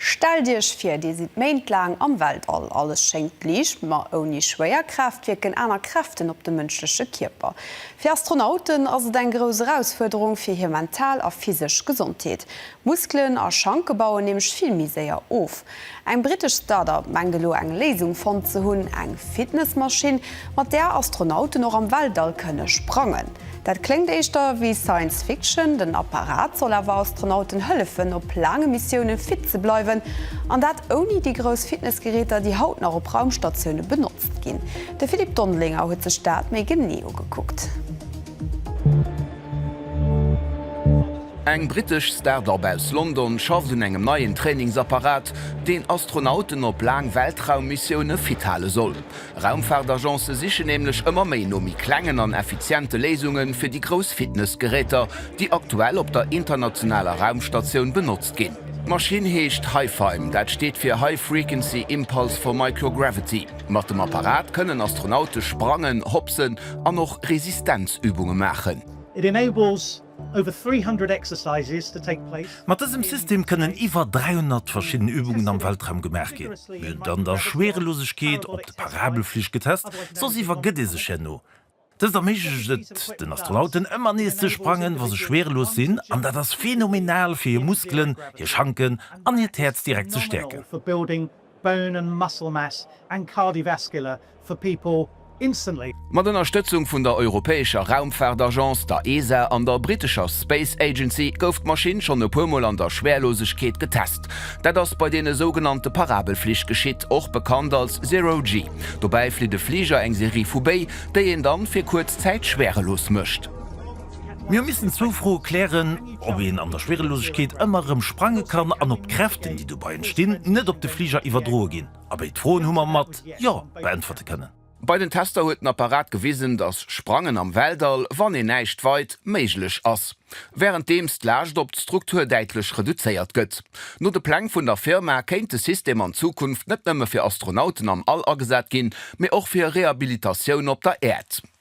Stellt Iech vir, Dir sidd méintlaang am Weltall. Alles schéngt liicht, ma ouni Schwéierkraaft wierken aner Kräften op de mënschleche Kierper. Fir Astronauten ass et eng grouss Erausfuerderung fir hir mental a physesch Gesondheet. Muskelen a Schanke bauen nämlech vill méi séier of. Eng brittesch Start-up mengt elo eng Léisung fonnt ze hunn, eng Fitnessmaschinn, mat där Astronauten och am Weltall kënne sprangen. Dat kléngt éischter wéi Science Fiction. Den Apparat soll awer Astronauten hëllefen, op laange Missiounen fit ze bleiwen. An dat ouni déi grouss Fitnessgeräter, déi haut nach op Raumstatioune benotzt ginn. De Philippe Dondelinger huet sech dat méi genee ugekuckt. Eng brittesch Start-Up aus London schafft un engem neien Trainingsapparat, deen Astronauten op laang Weltraummissioune fit hale soll. Raumfaartagence sichen nämlech ëmmer méi no méi klengen an effiziente Léisunge fir déi grouss Fitnessgeräter, déi aktuell op der internationaler Raumstatioun benotzt ginn. D'Maschinn heescht HiFiMe, dat steet fir High Frequency Impulse for Microgravity. Mat dem Apparat kënnen Astronaute sprangen, hopsen an och Resistenzübunge maachen. It enables Mat dësem System kënnen iwwer 300 verschidden Übungen am Weltraum gemaach ginn. Mir hunn et an der Schweerelosegkeet, op de Parabelflich getest, soss iwwer gëtt ee sech herno. Dëst erméiglecht et den Astronauten ëmmer nees ze sprangen, wa se schweerelos sinn, an dat ass phenomenal fir hir Muskelen, hir Schanken an hiert Häerz direkt ze stäerken. Bone and muscle mass and cardiovascular for people instantly. Mat Ënnerstëtzung vun der europäescher Raumfaartagence, der ESA, an der brittescher Space Agency gouf d'Maschinn schonn e puer Mol an der Schwärlosegkeet getest. Dat ass bei deene sougenannte Parabelflich geschitt, och bekannt als Zero-G. Dobäi flitt e Fliger eng Serie vu Béi, déi een dann fir kuerz Zäit schwärelos mécht. Mir hu missen zwou Froe klären, ob een an der Schwierelosegkeet ëmmer erëm sprange kann an ob d'Kräften, déi dobei entstinn, net op de Fliger iwwerdroe ginn. A béid Froen hu mer mat Jo beäntwerte kënnen. Bei den Tester huet den Apparat gewisen, dass Sprangen am Weltall, wann een näischt weit, méiglech ass, wärenddeems d'Laascht op d'Struktur däitlech reduzéiert gëtt. No de Pläng vun der Firma kéint de System an Zukunft net nëmme fir Astronauten am All agesat ginn, mee och fir Rehabilitatioun op der Äerd.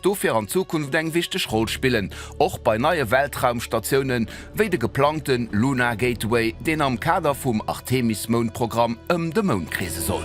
dofir an Zukunft eng wichteg Roll spillen, och bei neie Weltraumstatiounen, wéi de geplangte Lunar Gateway, deen am Kader vum Artemis-Moundprogramm ëm de Mound kreese soll.